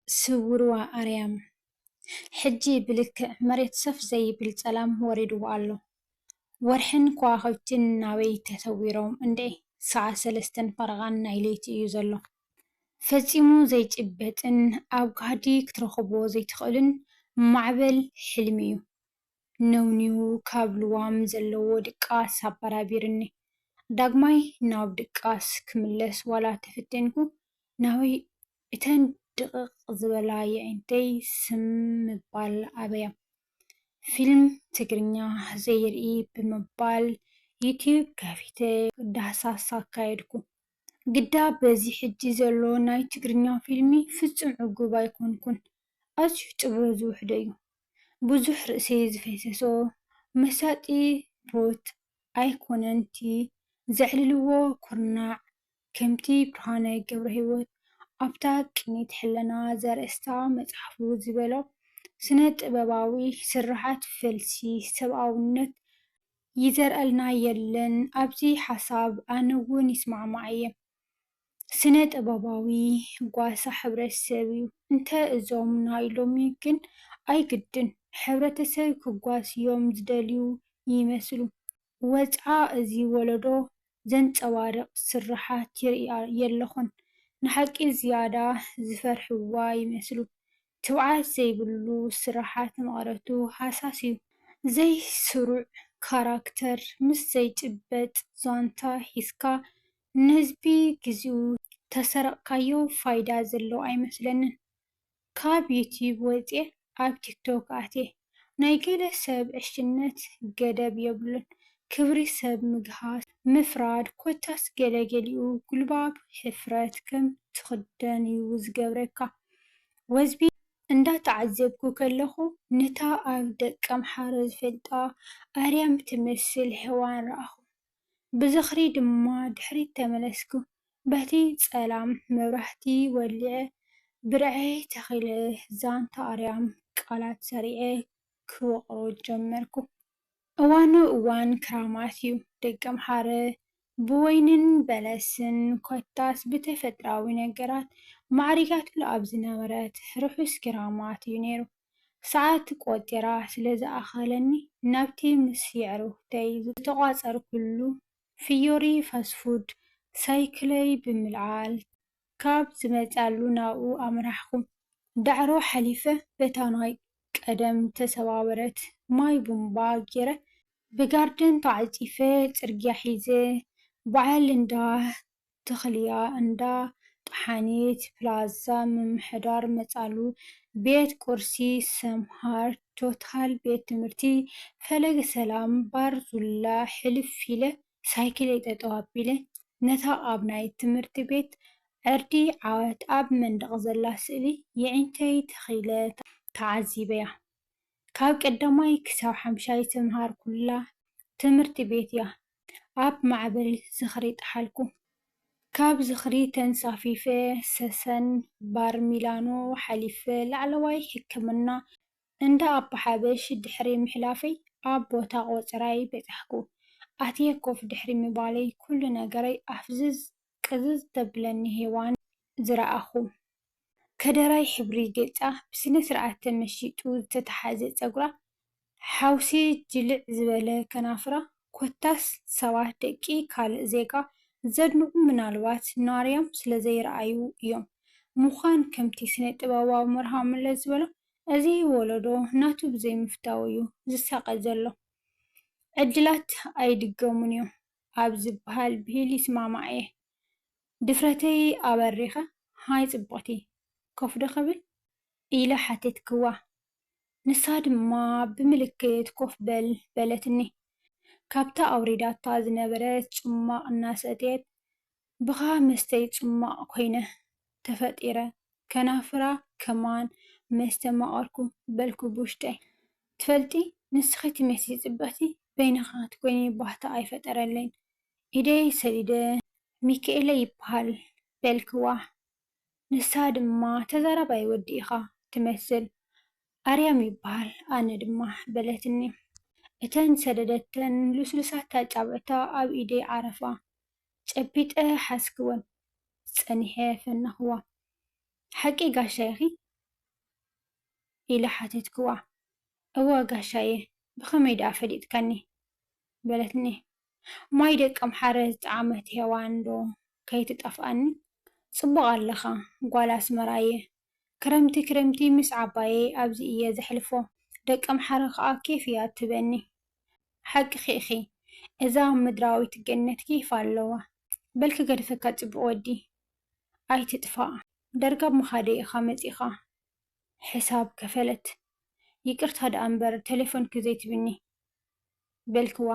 ስውርዋ ኣርያም ሕጂ ብልክዕ መሬት ሰፍ ዘይብል ጸላም ወሪድዎ ኣሎ። ወርሕን ከዋኽብትን ናበይ ተሰዊሮም እንድዒ! ሰዓት ሰለስተን ፈረቓን ናይ ለይቲ እዩ ዘሎ። ፈጺሙ ዘይጭበጥን ኣብ ጋህዲ ክትረኽብዎ ዘይትኽእልን ማዕበል ሕልሚ'ዩ ነውኒዉ ካብ ልዋም ዘለዎ ድቃስ ኣበራቢሩኒ። ዳግማይ ናብ ድቃስ ክምለስ ዋላ ተፈቴንኩ፣ ናበይ እተን ድቕቕ ዝበላ የዒንተይ ስም ምባል ኣበያ። ፊልም ትግርኛ ዘይርኢ ብምባል ዩትዩብ ከፊተ ዳህሳስ ኣካየድኩ። ግዳ በዚ ሕጂ ዘሎ ናይ ትግርኛ ፊልሚ ፍጹም ዕጉብ ኣይኮንኩን። ኣዝዩ ጥበብ ዝውሕዶ'ዩ። ብዙሕ ርእሲ ዝፈሰሶ መሳጢ ፕሮት ኣይኮነን'ቲ ዘዕልልዎ ኩርናዕ ከምቲ ብርሃነ ገብረሂወት ኣብታ ቅኒት ሕልና ዘርእስታ መጽሓፉ ዝበሎ፣ ስነ ጥበባዊ ስርሓት ፈልሲ ሰብኣውነት ይዘርእልና የለን፣ ኣብዚ ሓሳብ ኣነ ውን ይስማዕማዕ እየ። ስነ ጥበባዊ ጓሳ ሕብረተሰብ እዩ። እንተ እዞም ናይ ሎሚ ግን ኣይግድን ሕብረተሰብ ክጓስዮም ዝደልዩ ይመስሉ። ወጽዓ እዚ ወለዶ ዘንጸባርቕ ስርሓት ይርእያ የለኹን። ንሓቂ ዝያዳ ዝፈርሕዋ ይመስሉ። ትብዓት ዘይብሉ ስርሓት መቐረቱ ሃሳስ'ዩ። ዘይስሩዕ ካራክተር ምስ ዘይጭበጥ ዛንታ ሒዝካ ንህዝቢ ግዜኡ ተሰረቕካዮ ፋይዳ ዘለዎ ኣይመስለንን። ካብ ዩትዩብ ወጽየ ኣብ ቲክቶክ ኣትየ። ናይ ገለ ሰብ ዕሽነት ገደብ የብሉን። ክብሪ ሰብ ምግሃስ፣ ምፍራድ ኮታስ ገለ ገሊኡ ጉልባብ ሕፍረት ከም ትኽደን'ዩ ዝገብረካ። ወዝቢ! እንዳተዓዘብኩ ከለኹ ነታ ኣብ ደቀምሓረ ዝፈልጣ ኣርያም ትመስል ሄዋን ረኣኹ። ብዝኽሪ ድማ ድሕሪት ተመለስኩ። በቲ ጸላም መብራህቲ ወሊዐ ብርዐይ ተኺለ ዛንታ ኣርያም ቃላት ሰሪዐ ክወቕሮ ጀመርኩ። እዋኑ እዋን ክራማት'ዩ። ደቀምሓረ ብወይንን በለስን ኮታስ ብተፈጥራዊ ነገራት ማዕሪጋትሉ ኣብ ዝነበረት ርሑስ ክራማት'ዩ ነይሩ። ሰዓት ቆጺራ ስለ ዝኣኸለኒ ናብቲ ምስ የዕሩኽተይ ዝተቋጸርኩሉ ፍዮሪ ፋስት ፉድ ሳይክለይ ብምልዓል ካብ ዝመጽኣሉ ናብኡ ኣምራሕኩ። ዳዕሮ ሓሊፈ በታ ናይ ቀደም ዝተሰባበረት ማይ ቡንባ ጌረ ብጋርደን ተዓጺፈ ጽርግያ ሒዘ በዓል እንዳ ተኽልያ እንዳ ጠሓኒት ፕላዛ ምምሕዳር መፃሉ ቤት ቁርሲ ሰምሃር ቶታል ቤት ትምህርቲ ፈለገ ሰላም ባር ዙላ ሕልፍ ኢለ ሳይክለይ ጠጠው ኣቢለ ነታ ኣብ ናይ ትምህርቲ ቤት ዕርዲ ዓወት ኣብ መንደቕ ዘላ ስእሊ የዒንተይ ተኺለ ተዓዚበያ ካብ ቀዳማይ ክሳብ ሓምሻይ ዝተምሃርኩላ ትምህርቲ ቤት'ያ ኣብ ማዕበል ዝኽሪ ጥሓልኩ። ካብ ዝኽሪ ተንሳፊፈ ሰሰን ባር ሚላኖ ሓሊፈ ላዕለዋይ ሕክምና እንዳ ኣባ ሓበሽ ድሕሪ ምሕላፈይ ኣብ ቦታ ቆጽራይ በጻሕኩ። ኣትየ ኮፍ ድሕሪ ምባለይ ኩሉ ነገረይ ኣፍዝዝ ቅዝዝ ተብለኒ ሄዋን ዝረኣኹ። ከደራይ ሕብሪ ገጻ ብስነ ስርዓት ተመሺጡ ዝተተሓዘ ጸጉራ ሓውሴ ጅልዕ ዝበለ ከናፍራ ኮታስ ሰባት ደቂ ካልእ ዜጋ ዘድንቑ ምናልባት ናርያም ስለዘይረኣዩ እዮም ምዃን ከምቲ ስነ ጥበባዊ መርሃዊ መለስ ዝበሎ እዚ ወለዶ ናቱ ብዘይምፍታዉ እዩ ዝሳቐ ዘሎ ዕድላት ኣይድገሙን እዮም ኣብ ዝብሃል ብሂል ይስማማዕ እየ። ድፍረተይ ኣበሪኸ፣ ሃይ ጽብቕቲ፣ ኮፍ'ዶ ክብል? ኢለ ሓተትክዋ። ንሳ ድማ ብምልክት ኮፍ በል በለትኒ። ካብታ ኣውሪዳታ ዝነበረት ጽሟቕ እናሰተየት፣ ብኻ መስተይ ጽሟቕ ኮይነ ተፈጢረ ከናፍራ ከማን መስተ ማቐርኩ በልኩ ብውሽጠይ ትፈልጢ ንስኺ ትመስሊ ጽብቕቲ በይንኻ ክትኮይኒ ባህታ ኣይፈጠረለይን ኢደይ ሰዲደ ሚኪኤለይ ይብሃል በልክዋ ንሳ ድማ ተዛራባይ ወዲ ኢኻ ትመስል ኣርያም ይበሃል ኣነ ድማ በለትኒ እተን ዝሰደደተን ልስሉሳት ኣጻብዕታ ኣብ ኢደይ ዓረፋ ጨቢጠ ሓዝክወን ጸኒሐ ፈነኽዋ ሓቂ ጋሻ ኢኺ ኢለ ሓተትክዋ እወ ጋሻየ ብኸመይ ደኣ ፈሊጥካኒ በለትኒ ማይ ደቀምሓረ ዝጠዓመት ሄዋን ዶ ከይትጠፍኣኒ ጽቡቕ ኣለኻ ጓል ኣስመራ'የ ክረምቲ ክረምቲ ምስ ዓባየይ ኣብዚ እየ ዘሕልፎ ደቀምሓረ ከኣ ኬፍ እያ ትህበኒ ሓቅኺ ኢኺ እዛ ምድራዊት ገነት ኬፍ ኣለዋ በል ክገድፈካ ጽቡቕ ወዲ ኣይትጥፋእ ዳርጋ ኣብ ምኻደይ ኢኻ መጺእኻ ሕሳብ ከፈለት ይቅርታ ደኣ እምበር ተሌፎንኪ ዘይትብኒ በልክዋ።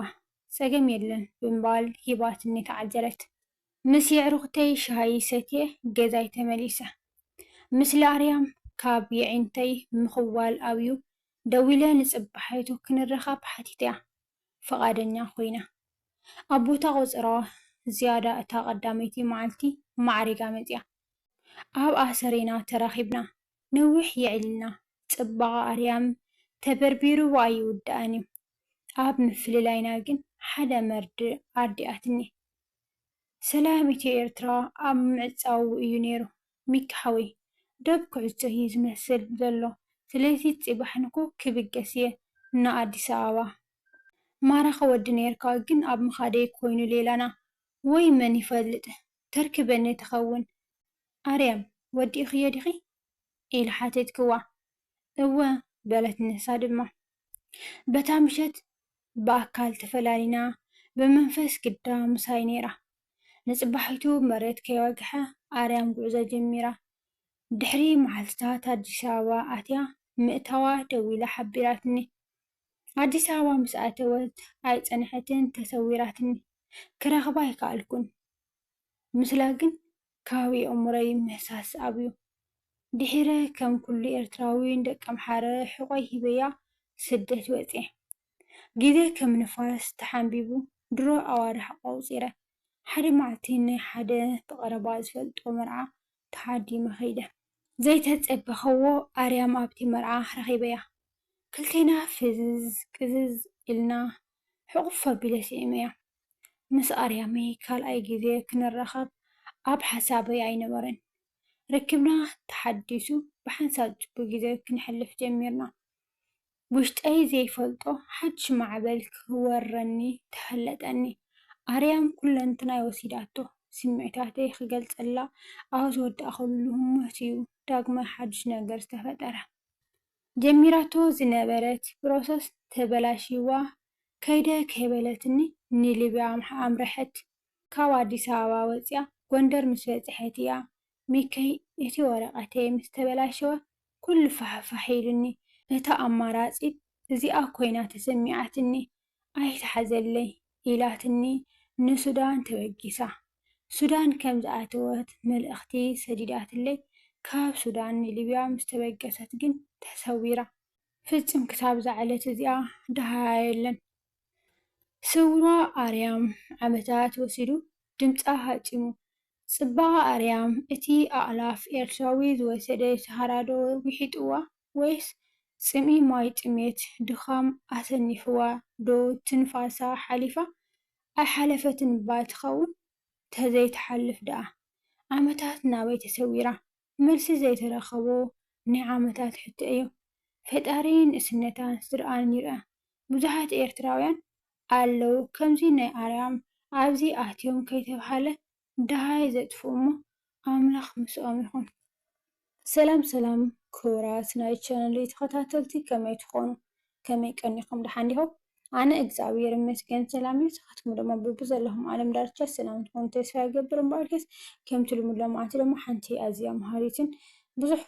ጸገም የለን ብምባል ሂባትኒ ተዓዘረት። ምስ የዕሩኽተይ ሻሂ ሰትየ ገዛይ ተመሊሰ። ምስሊ ኣርያም ካብ የዒንተይ ምኽዋል ኣብዩ ደዊለ ንጽባሒቱ ክንራኸብ ሓቲተያ። ፍቓደኛ ኮይና። ኣብ ቦታ ቆጽሮ ዝያዳ እታ ቀዳመይቲ መዓልቲ ማዕሪጋ መጺኣ። ኣብ ኣሰሪና ተራኺብና። ንዊሕ የዒልና ጽባቐ ኣርያም ተበርቢሩ እባ ኣይውዳእን እዩ ኣብ ምፍልላይና ግን ሓደ መርድእ ኣርዲኣትኒ ሰላም ኢትዮ ኤርትራ ኣብ ምዕጻዉ እዩ ኔሩ ሚኪ ሓወይ ዶብ ኩዕጾ እዩ ዝመስል ዘሎ ስለዚ ጺባሕ ንኩ ክብገስ እየ ን ኣዲስ ኣበባ ማራኺ ወዲ ኔርካ ግን ኣብ ምኻደይ ኮይኑ ሌላና ወይ መን ይፈልጥ ተርክበኒ ትኸውን ኣርያም ወዲእኽዮ ዲኺ? ኢለ ሓተትክዋ። እወ፣ በለት ንሳ ድማ። በታ ምሸት ብኣካል ተፈላሊና፣ ብመንፈስ ግዳ ምሳይ ነይራ። ንጽባሒቱ መሬት ከይወግሐ ኣርያም ጉዕዞ ጀሚራ። ድሕሪ መዓልትታት ኣዲስ ኣበባ ኣትያ ምእታዋ ደዊላ ሓቢራትኒ። ኣዲስ ኣበባ ምስ ኣተወት ኣይጸንሐትን ተሰዊራትኒ። ክረኽባ ኣይከኣልኩን። ምስላ ግን ከባቢ ኣእምሮይ ምህሳስ ኣብዩ። ድሒረ ከም ኩሉ ኤርትራዊ ንደቀምሓረ ሕቖይ ሂበያ ስደት ወጽየ። ግዜ ከም ንፋስ ተሓንቢቡ ድሮ ኣዋርሕ ኣቖጺረ። ሓደ መዓልቲ ናይ ሓደ ብቐረባ ዝፈልጦ መርዓ ተዓዲመ ከይደ። ዘይተጸበኸዎ ኣርያም ኣብቲ መርዓ ረኺበያ። ክልቴና ፍዝዝ ቅዝዝ ኢልና ሕቝፍ ኣቢለ ስዒመያ። ምስ ኣርያመይ ካልኣይ ግዜ ክንራኸብ ኣብ ሓሳበይ ኣይነበረን። ርክብና ተሓዲሱ ብሓንሳብ ጽቡቕ ግዜ ክነሕልፍ ጀሚርና። ውሽጠይ ዘይፈልጦ ሓድሽ ማዕበል ክወረኒ ተፈለጠኒ። ኣርያም ኩለንትናይ ወሲዳቶ። ስምዒታተይ ክገልጸላ ኣብ ዝወዳእኩሉ ህሞት'ዩ ዳግማይ ሓድሽ ነገር ዝተፈጠረ። ጀሚራቶ ዝነበረት ፕሮሰስ ተበላሽይዋ ከይደ ከይበለትኒ ንሊብያ ኣምረሐት። ካብ ኣዲስ ኣበባ ወጺኣ ጎንደር ምስ በጽሐት እያ ሚኪይ እቲ ወረቐተይ ምስ ተበላሸወ ኩሉ ፋሕፋሕ ኢሉኒ። እታ ኣማራጺት እዚኣ ኮይና ተሰሚዓትኒ። ኣይትሓዘለይ ኢላትኒ ንሱዳን ተበጊሳ። ሱዳን ከም ዝኣተወት መልእኽቲ ሰዲዳትለይ፣ ካብ ሱዳን ንሊብያ ምስ ተበገሰት ግን ተሰዊራ። ፍጹም ክሳብ እዛ ዕለት እዚኣ ደሃያ የለን። ስውራ ኣርያም ዓመታት ወሲዱ ድምጻ ሃጪሙ። ጽባቐ ኣርያም እቲ ኣእላፍ ኤርትራዊ ዝወሰደ ሰሃራዶ ዊሒጡዋ? ወይስ ጽምኢ ማይ ጥሜት ድኻም ኣሰኒፍዋ ዶ ትንፋሳ ሓሊፋ ኣይሓለፈትን እባ ትኸውን ተዘይ ትሓልፍ ደኣ ዓመታት ናበይ ተሰዊራ መልሲ ዘይተረኸቦ ናይ ዓመታት ሕቶ እዩ ፈጣሪ ንእስነታን ስድርኣን ይርኣ ብዙሓት ኤርትራውያን ኣለው ከምዚ ናይ ኣርያም ኣብዚ ኣትዮም ከይተብሃለ ደሃይ ዘጥፍኡ እሞ ኣምላኽ ምስኦም ይኹን። ሰላም ሰላም ክቡራት ናይ ቻነለይ ተኸታተልቲ ከመይ ትኾኑ ከመይ ቀኒኹም ደሓን ዲኹም ኣነ እግዝኣብሄር ይመስገን ሰላም እየ ንስኻትኩም ደሞ ብብዘለኹም ዓለም ዳርቻ ሰላም ትኾኑ ተስፋ ይገብር እምበኣርከስ ከምቲ ልሙድ ሎምዓንቲ ደሞ ሓንቲ ኣዝያ መሃሪትን ብዙሕ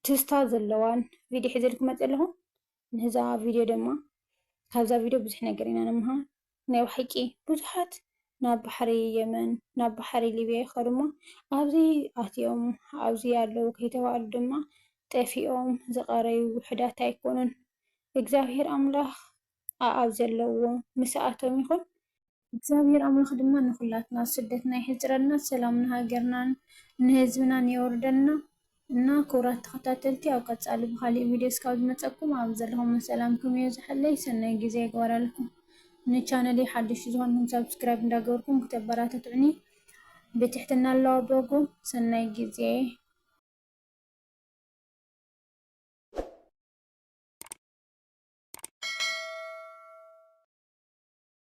ትዝታ ዘለዋን ቪድዮ ሒዘልኩም መፅየ ኣለኹ ንዛ ቪድዮ ድማ ካብዛ ቪድዮ ብዙሕ ነገር ኢና ንምሃር ናይ ባሓቂ ብዙሓት ናብ ባሕሪ የመን ናብ ባሕሪ ሊብያ ይኸዱ እሞ ኣብዚ ኣትዮም ኣብዚ ኣለዉ ከይተባህሉ ድማ ጠፊኦም ዝቐረዩ ውሑዳት ኣይኮኑን እግዚኣብሄር ኣምላኽ ኣኣብ ዘለዎ ምስኣቶም ይኹን። እግዚኣብሔር ኣምላክ ድማ ንኩላትና ስደትና የሕፅረልና ሰላም ንሃገርናን ንህዝብናን የውርደልና እና ክቡራት ተከታተልቲ ኣብ ቀፃሊ ብካሊእ ቪድዮ እስካብ ዝመፀኩም ኣብ ዘለኩሞ ሰላምኩም የብዘሐለይ ሰናይ ግዜ ይግበረልኩም ንቻነለይ ሓደሽቲ ዝኮንኩም ሳብስክራይብ እንዳገበርኩም ክተበራታትዑኒ ብትሕትና እለዋበኩም ሰናይ ግዜ።